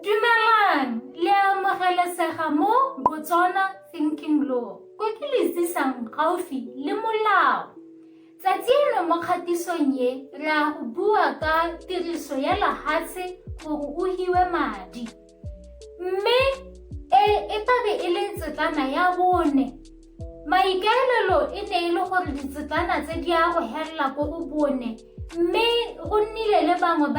Dumelang, le amogelesega mo Botswana Thinking Law, ko ke le tsisang gaufi le molao. Tsatsi eno mo kgatisong e, re a go bua ka tiriso ya lahatshe gore o hiwe madi. Mme e, e tlabe e le tsetlana ya bone maikaelelo e ne e le gore ditsetana tse di ya go helela ko go bone mme go nnile le bangwe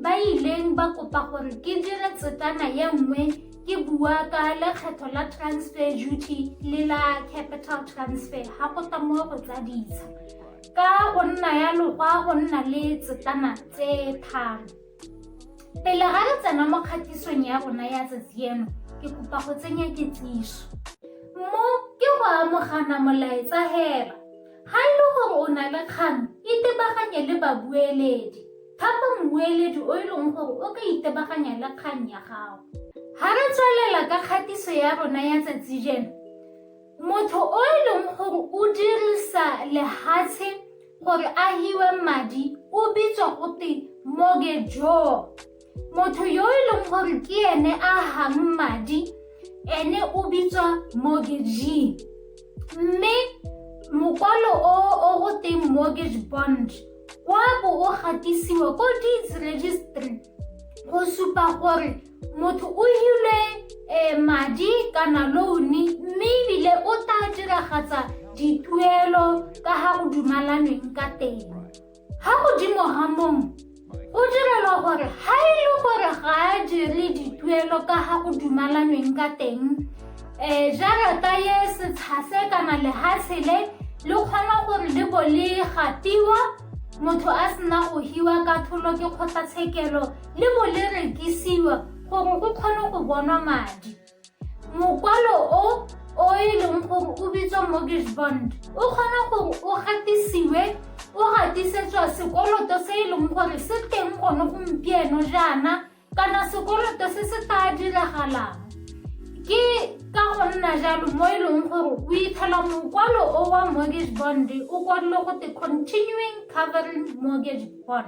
ba ileng ba kopa gore ke dire tsetana ye nngwe ke bua ka lekgetho la transfer duty le la capital transfer ga go ta mo go tsa ditsha ka go nna ya lokwa go nna le tsetana tse tharo Pele ga re tsena mo kgatisong ya rona ya tsatsi eno, ke kopa go tsenya kitsiso. Mo ke go amogana molaetsa hela. Ga e le gore o na le kgang, itebaganye le babueledi. Thapa mmueledi o e leng gore o ka itebaganya le kgang ya gago. Ga re tswelela ka kgatiso ya rona ya tsatsi jeno, Motho o e leng gore o dirisa lehatshe gore a hiwe madi o bitswa gote mortgagor motho yo e leng gore ke ene a hang madi ene o bitswa mortgagee mme mokwalo o o go teng mortgage bond wa bo o gatisiwa ko deeds registry go supa gore motho o hile eh, madi kana louni mme ebile o tla diragatsa dituelo ka ga go dumalanweng ka teng ga godimo ga mong go direlwa gore ga e le gore ga a dire dituelo ka ga go dumalanweng ka teng um jarata ye setshase kana lehatshe le le kgona gore le bo le gatiwa motho a sena go hiwa ka tholo ke kgotlatshekelo le bo le rekisiwa gore go kgone go bonwa madi mokwalo o o e leng gore o bitswa mortgage bond o kgona gore o gatisiwe o gatisetswa sekoloto se e leng gore se teng gone gompieno jaana kana sekoloto se se tla diragalang ke ka go nna jalo mo e leng gore o ithela mokwalo o wa mortgage bond o kwadile go te continuing covering mortgage bond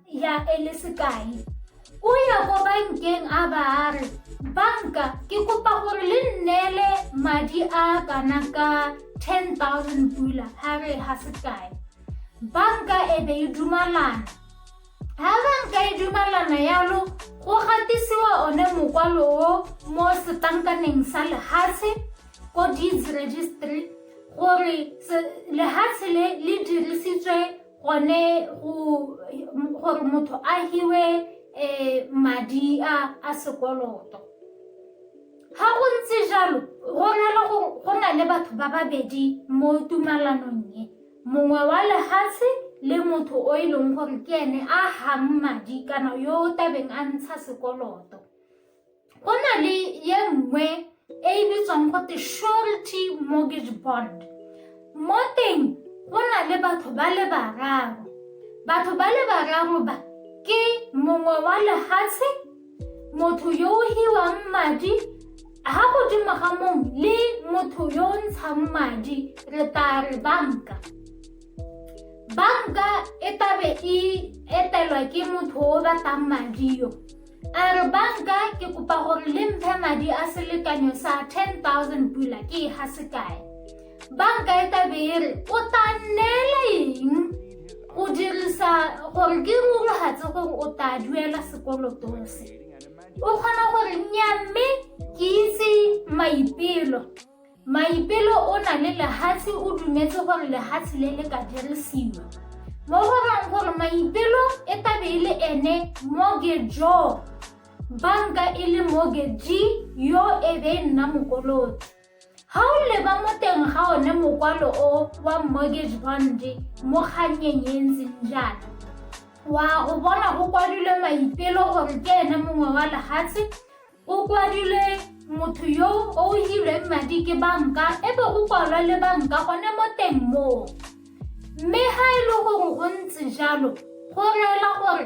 ya e le sekai o ya ko bankeng a ba a re banka ke kopa gore le nneele madi a kana ka 10000 pula ha re ha sekai banka e be e dumalana ha banka e dumalana yalo go gatisiwa one mokwalo o mo setankaneng sa lehatshe ko deeds registry gore lehatshe le le dirisitswe gone gore motho a hiwe um madi a a sekoloto ga go ntse jalo go na le gore go na le batho ba babedi mo tumalanong e mongwe wa lehatshe le motho o e leng gore ke ene a hang madi kana yo o tabeng a ntsha sekoloto Go na le ye nngwe e e bitswang go te surety mortgage bond. Mo teng go na le batho ba le bararo. Batho ba le bararo ba ke mongwe wa lehatshe, motho yo o hiwang madi, ha godimo ga mong le motho yo o ntshang madi re tla re banka banka e tabe e etelwa ke motho o batlang madi yo a re banka ke kopa gore le mphe madi a selekanyo sa 10000 pula ke e ga sekae banka e tabe e re o ta neela eng o dirisa gore ke rorogatse gore o ta duela sekolotong se o kgona gore nnyamme ke itse maipelo Maipelo o na le lehatshe o dumetse gore lehatshe le le ka dirisiwa. Mo go rang gore maipelo e tabe e le ene mogejo banka e le mogeji yo e be e nna mokoloti. Ga o leba mo teng ga one mokwalo o wa mortgage bond mo kgannyeng e ntseng jaana wa go bona go kwadilwe maipelo gore ke ene mongwe wa lehatshe O kwadilwe motho yo o hilweng madi ke banka e be o kwalwa le banka gone mo teng moo mme ga e le gore go ntse jalo go reela gore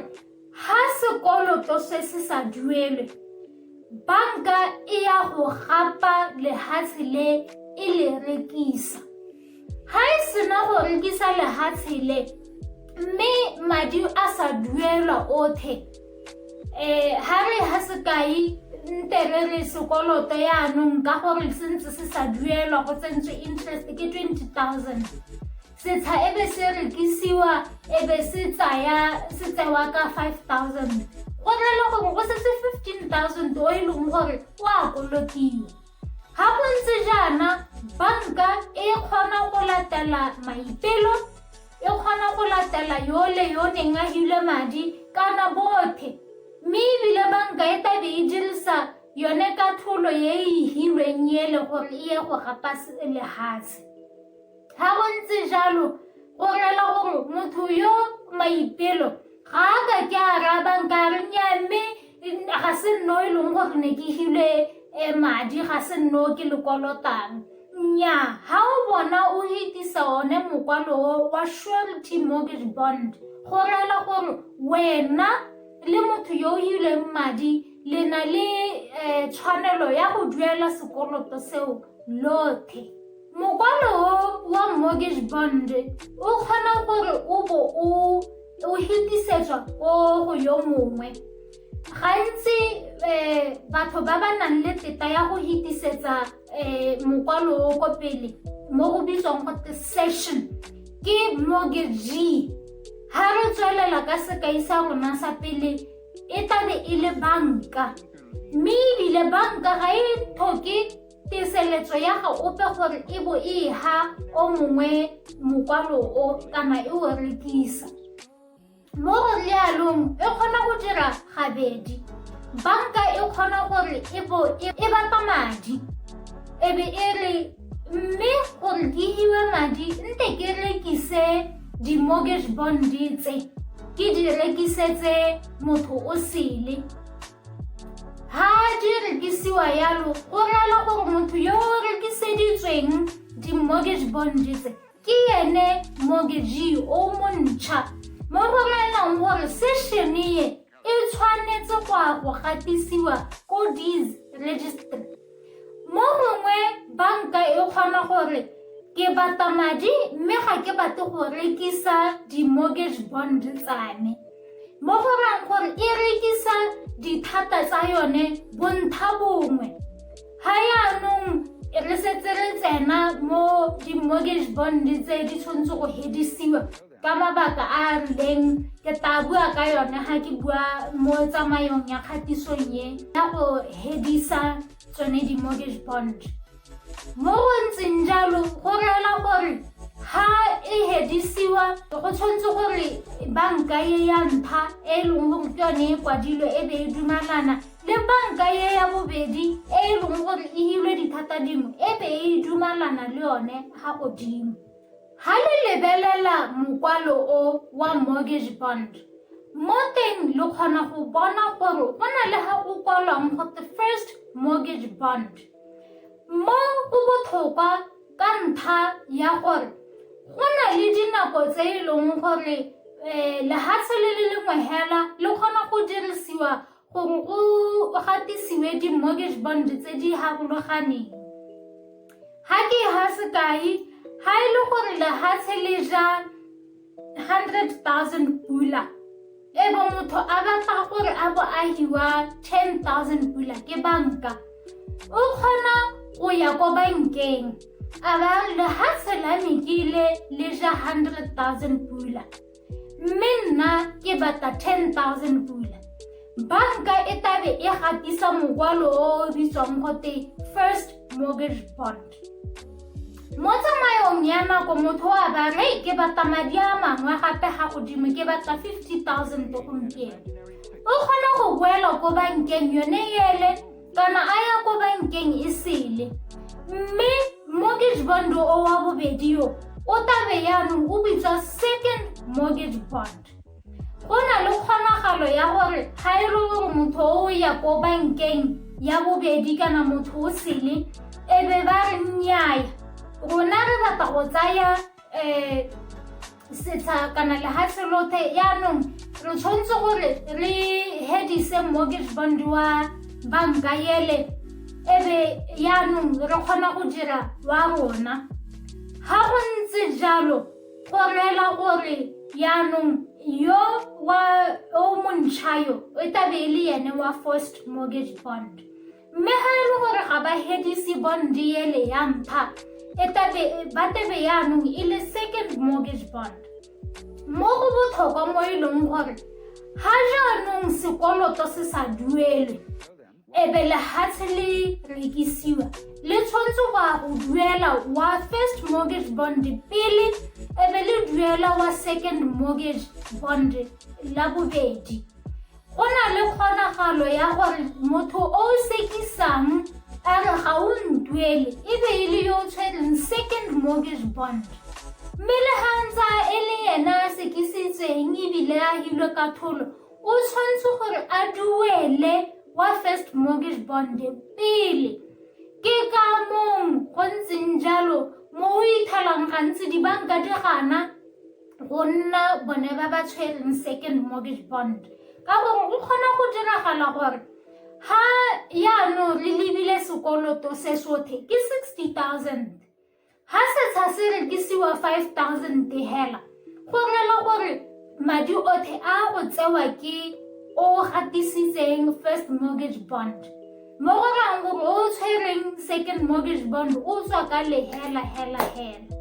ga sekoloto se se sa duelwe banka e ya go gapa lehatshe le e le rekisa Ga e sena go rekisa lehatshe le mme madi a sa duelwa othe um ga re ga sekai ntere re sekoloto yaanong ka gore se ntse se sa duelwa go tsentswe interest ke twenty thousand setsha e be se rekisiwa e be se tsaya se tsewa ka five thousand go rela gore go setse fifteen thousand o e leng gore o a kolotiwa Ga go ntse jaana, banka e kgona go latela maipelo, e kgona go latela yo le yo neng a hile madi kana bothe. Mme ebile banka e tlabe e dirisa yone katlholo e e hilweng ele gore e ye go gapa lefatshe. Ga go ntse jalo go rela gore motho yo maipelo ga a ka ke a rabang ka re nya mme ga se nno e leng gore ne ke hile um madi ga se nno ke lekolotang nya ga o bona o etisa one mokwalo wa surety mortgage bond go rela gore wena le motho yo o ileng madi le na le um tshwanelo ya go duela sekoloto seo lothe Mokwalo o wa mortgage bond o kgona gore o bo o o hitisetswa ko go yo mongwe gantsi um batho ba ba nang le teta ya go hitisetsa um mokwalo o ko pele mo go bitswang gote session ke mortgagee ga re tswelela ka sekai sa rona sa pele e tlabe e le banka mme ebile banka ga e tlhoke Teseletso ya ga ope gore e bo e ha o mongwe mokwalo o kana e o rekisa. Mo go rialong e kgona go dira gabedi. Banka e kgona gore e bo e, e bapa madi e be e re mme gore ke iwe madi nte ke rekise di-mortgage bond tse ke di rekisetse motho o sele ha di rekisiwa yalo go ralo gore motho yo o rekiseditsweng di-mortgage bonde tse ke ene mortgagee o montšha mo go raelang gore sešene e tshwanetse go a go gatisiwa ko dis registry Mo mongwe banka e kgona gore ke bata madi mme ga ke batle go rekisa di-mortgage bond tsane mo go rang gore e rekisa dithata tsa yone bontsha bongwe ga yaanong re setse re tsena mo di-mortgage bond tse di tshwanetse go hedisiwa ka mabaka a a rileng ke tla bua ka yone ga ke bua mo tsamayong ya kgatisong ye ya go hedisa tsone di-mortgage bond mo go ntseng jalo go reela gore ga e hedisiwa go tshwanetse gore banka ye ya ntlha e e leng gore ke yone e kwadilwe e be e dumalana le banka ye ya bobedi e e leng gore e hilwe dithata dingwe e be e dumalana le yone ga godimo Ha le lebelela mokwalo o wa mortgage bond, mo teng le kgona go bona gore go na le ga go kwalwang go the first mortgage bond. Mo go botlhokwa ka ntlha ya gore go na le dinako tse e leng gore um lehatshe le le lengwe hela le kgona go dirisiwa gore o gatisiwe di-mortgage bond tse di harologaneng ga ke ga sekai ga e le gore lehatshe le ja 100,000 pula e bo motho a batla gore a bo a hiwa 10,000 pula ke banka o kgona go ya ko bankeng a ba lehatshe la mekile le ja 100,000 pula mme nna ke batla 10000 pula banka e tabe e gatisa mokwalo o o bitswang gote first mortgage bond mo tsamayong ya nako motho wa ba re ke batla madi a mangwe gape ga godimo ke batla 50000 gompieno o kgona go boela ko bankeng yone ele kana a ya kwa bankeng e sele mme mortgage bond o wa bobedi yo o tabe yaanong o bitswa second mortgage bond go na le kgonagalo ya gore ga e le gore motho o ya ko bankeng ya bobedi kana motho o sele e be ba re nnyaya rona re batla go tsaya um setsha kana lehatlhe lothe yaanong re tshwanetse gore re hedise mortgage bond wa banka ele e be yaanong re kgona go dira wa rona ga go ntse jalo go reela gore yaanong yo wa o montšha yo e tabe e le ene wa first mortgage bond mme ga e le gore ga ba hedise bondiele ya mpha e ba tebe yaanong e le second mortgage bond mo go botlhokwa mo e leng gore ga jaanong sekoloto se sa duelwe ebe lehatshe le rekisiwa le tshwanetse go ya go duela wa first mortgage bond pele ebe le duela wa second mortgage bond la bobedi Go na le kgonagalo ya gore motho o o sekisang a re ga o ntuele e be e le yo o tshwereng second mortgage bond mme le ga ntsa e le ena a sekisitsweng ebile a hilwe ka tholo o tshwanetse gore a duele wa first mortgage bond pele ke ka mong go ntseng jalo mo o ithalang gantsi dibanka di gana go nna bone ba ba tshwereng second mortgage bond ka gore go kgona go diragala gore ga yaanong re lebile sekoloto se sothe ke sixty thousand ga setsha se rekisiwa five thousand hela go rela gore madi othe a go tsewa ke o gatisitseng first mortgage bond mo go rang gore o tshwereng second mortgage bond o tswa ka lehela hela hela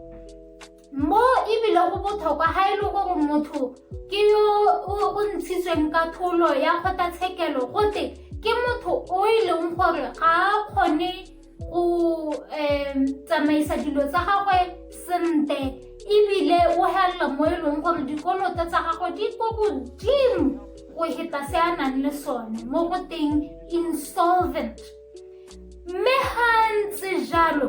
mo ebile go botlhokwa ga e le gore motho ke yo o ntshitsweng ka tholo ya kgotlatshekelo gote ke motho o e leng gore ga a kgone go um tsamaisa dilo tsa gagwe sentle ebile o helela mo e leng gore dikoloto tsa gagwe di ko godimo go heta se a nang le sone mo go teng insolvent mme ga ntse jalo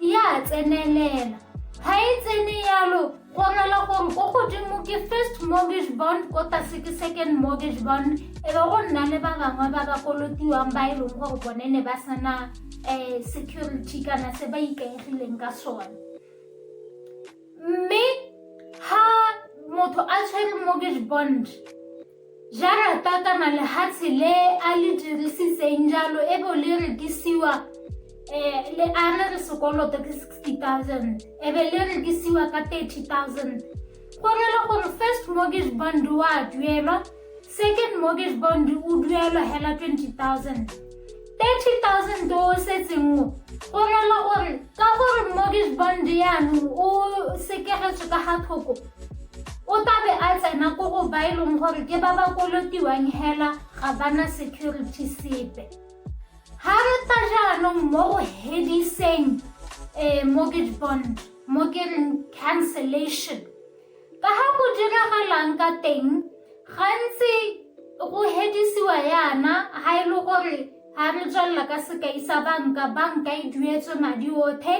E a tsenelela. Ga e tsene yalo go amela gore ko godimo ke first mortgage bond ko tlase ke second mortgage bond e be go nna le ba bangwe ba ba kolotiwang ba e leng gore bone ne ba sena um security kana se ba ikaegileng ka sone mme ha motho a tshwere mortgage bond Jarata kana lehatshe le a le dirisitseng jalo e bo le rekisiwa um le a re re sekoloto ke sixty thousand e be le rekisiwa ka thirty thousand go re le gore first mortgage bond wa duelwa second mortgage bond o duelwa hela twenty thousand 30,000 o setseng o rela gore ka gore mortgage bond yanong o sekegetswe ka ga thoko o tabe a tsena ko go ba e leng gore ke ba ba kolotiwang hela ga bana security sepe ga re tla jaanong mo go hediseng um mortgage bond mo ke reng cancellation Ka ga go diragalang ka teng, gantsi go hedisiwa yana ga e le gore ga re tswelela ka sekai sa banka, banka e duetswe madi othe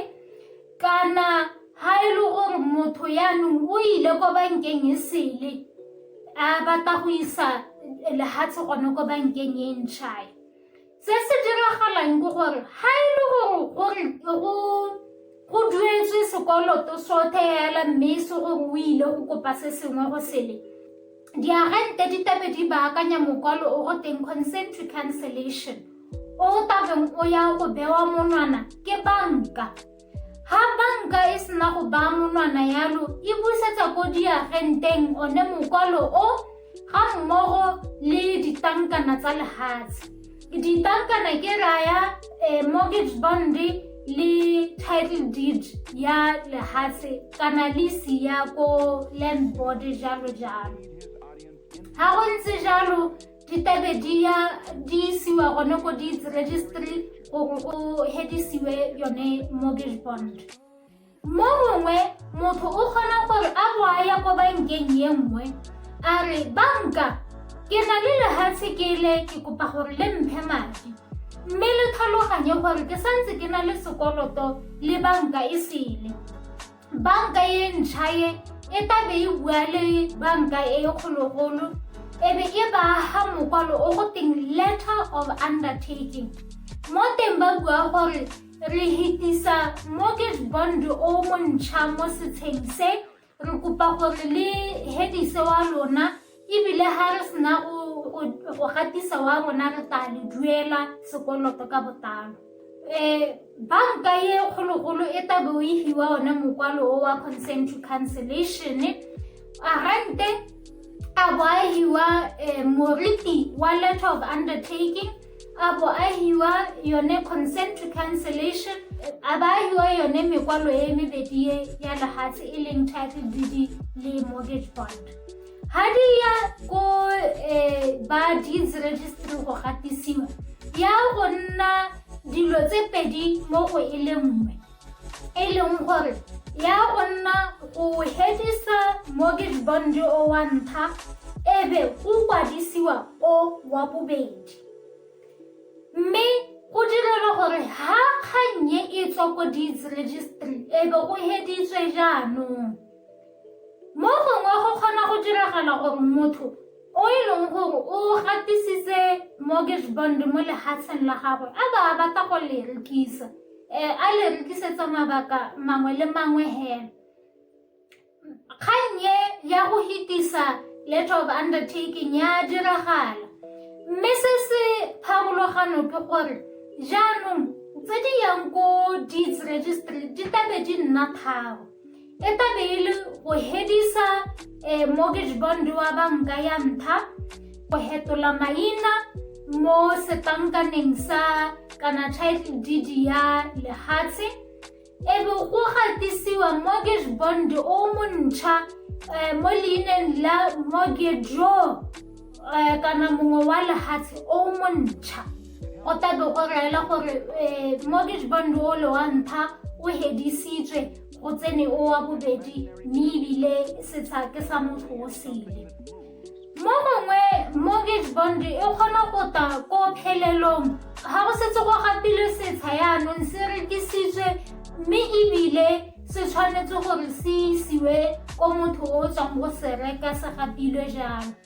kana ga e le gore motho yaanong o ile ko bankeng e sele a batla go isa lehatshe gone ko bankeng e ntšhae. Se se diragalang ke gore ga e le gore go duetswe sekoloto sothe hela mme e se gore o ile go kopa se sengwe go sele diagente di tabe di baakanya mokwalo o go teng consent to cancellation o tabeng o ya go bewa monwana ke banka Ga banka e sena go baa monwana yalo, e busetsa ko diagenteng one mokwalo o ga mmogo le ditlankana tsa lehatshe. Ditlankana ke raya eh, mortgage bond le title deed ya lehatshe kana lease ya ko land board jalo jalo. Ga go ntse jalo ditabe di ya di isiwa gone ko deeds registry gore go hedisiwe yone mortgage bond mo mongwe motho o kgona gore a go a ya ko bankeng ye nngwe a re banka ke na le lehatshe ke le ke kopa gore le mphe madi mme le tlhaloganye gore ke santse ke na le sekoloto le banka e sele banka e ntšha e e tabe e bua le banka e kgologolo e be e baaga mokwalo o go teng letter of undertaking mo teng ba bua gore re hitisa mortgage bond o montšha mo setsheng se re kopa gore le hedise wa lona ebile ga re sena go gatisa wa rona re tla le duela sekoloto ka botalo um banka e kgologolo e tabe o efiwa one mokwalo o wa consent to cancellation arante a bo a hiwa um moriti wa letter of undertaking a bo a hiwa yone consent to cancellation a ba hiwa yone mekwalo e mebedi ya lehatshe e leng title didi le mortgage bond ha di ya ko um ba deeds registry go gatisiwa ya go nna dilo tse pedi mo go e le nngwe e leng gore ya go nna go hedisa mortgage bond o wa ntlha e be go kwadisiwa o wa bobedi mme go direlwa gore ha kgannye e tswa ko deeds registry e be go heditswe jaanong Mo gongwe go kgona go diragala gore motho o e leng gore o gatisitse mortgage bond mo lehatsheng la gagwe a ba a batla go le rekisa um a le rekisetsa mabaka mangwe le mangwe hela kgang e ya go hitisa letter of undertaking ya diragala mme se se pharologano ke gore jaanong tse di yang ko deeds registry di tlabe di nna tharo e tla be e le go hedisa eh, mortgage bond wa banka ya ntlha go hetola maina mo setankaneng sa kana title deed ya lehatshe e be go gatisiwa mortgage bond o montšha eh, mo leineng la mortgageo eh, kana mongwe wa lehatshe o montšha o tla be go reela gore mortgage bond o le wa ntlha o hedisitswe o tsene o wa bobedi mme ebile setsha ke sa motho o sele mo mongwe mortgage bond e kgona go ta ko phelelong ga go setse go gapilwe setsha yaanong se rekisitswe mme ebile se tshwanetse gore se isiwe ko motho o tswang go se reka se gapilwe jalo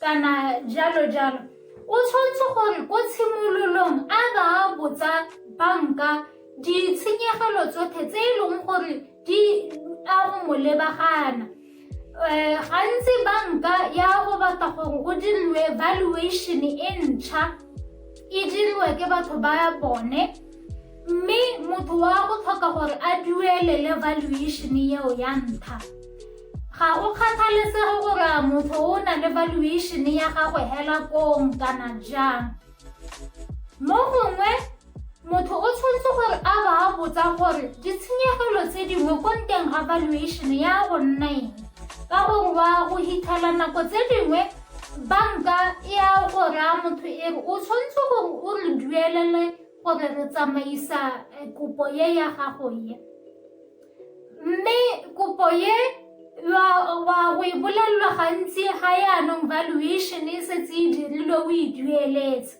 kana jalo jalo o tshwanetse gore ko tshimololong a ba botsa banka ditshenyegelo tsotlhe tse e leng gore di a go mo lebagana um gantsi banka ya go batla gore o diriwe valuation e ntšha e diriwe ke batho ba bone mme motho wa go tlhoka gore a duelele valuation eo ya ntlha ga go kgathalesege gore a motho o na le valuation ya gagwe hela kong kana jang mo gongwe motho o tshwanetse gore a ba a botsa gore ditshenyegelo tse dingwe ko nteng ga valuation ya go nna eng ka gore wa go hitlhela nako tse dingwe banka e a go raya motho e re o tshwanetse gore o re duelele gore re tsamaisa eh, kopo ye ya gago ye mme kopo ye wa go e bolelelwa gantsi ga yaanong valuation e setse e dirilwe o e dueletse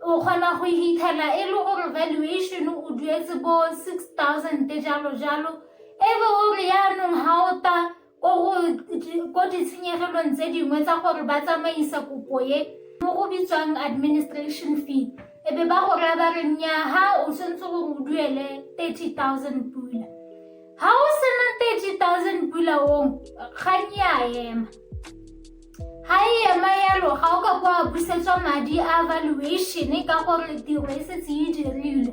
o kgona go ithela e le gore valuation o duetse bo six thousand jalo jalo e be o re yaanong ga o ta ko ditshenyegelong tse dingwe tsa gore ba tsamaisa kopo e mo go bitswang administration fee e be ba go raya ba re nnyaa ha o tshwanetse gore o duele thirty thousand pula ha o sena thirty thousand pula ong ga nya ema ha e ema yalo ga o ka kwa busetswa madi a valuation ka gore tiro e setse e dirilwe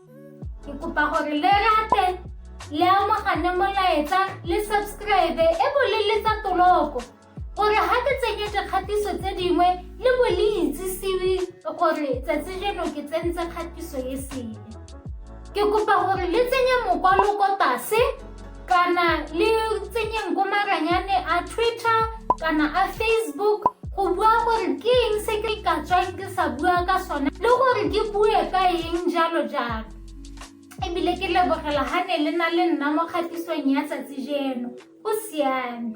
Ke kopa gore le rate le amogane molaetsa le subscribe e bo le letsa toloko gore ga ke tsenye dikgatiso tse dingwe le bo le itsisiwe gore tsatsi jeno ke tsentse kgatiso e sele ke kopa gore le tsenye mokwaloko tase kana le tsenyeng ko maranyane a twitter kana a facebook go bua gore ke eng se ke ka tswang ke sa bua ka sone le gore ke bue ka eng jalo jalo ebile ke lebogela ga ne le na le nna mo kgatisong ya tsatsi jeno go siame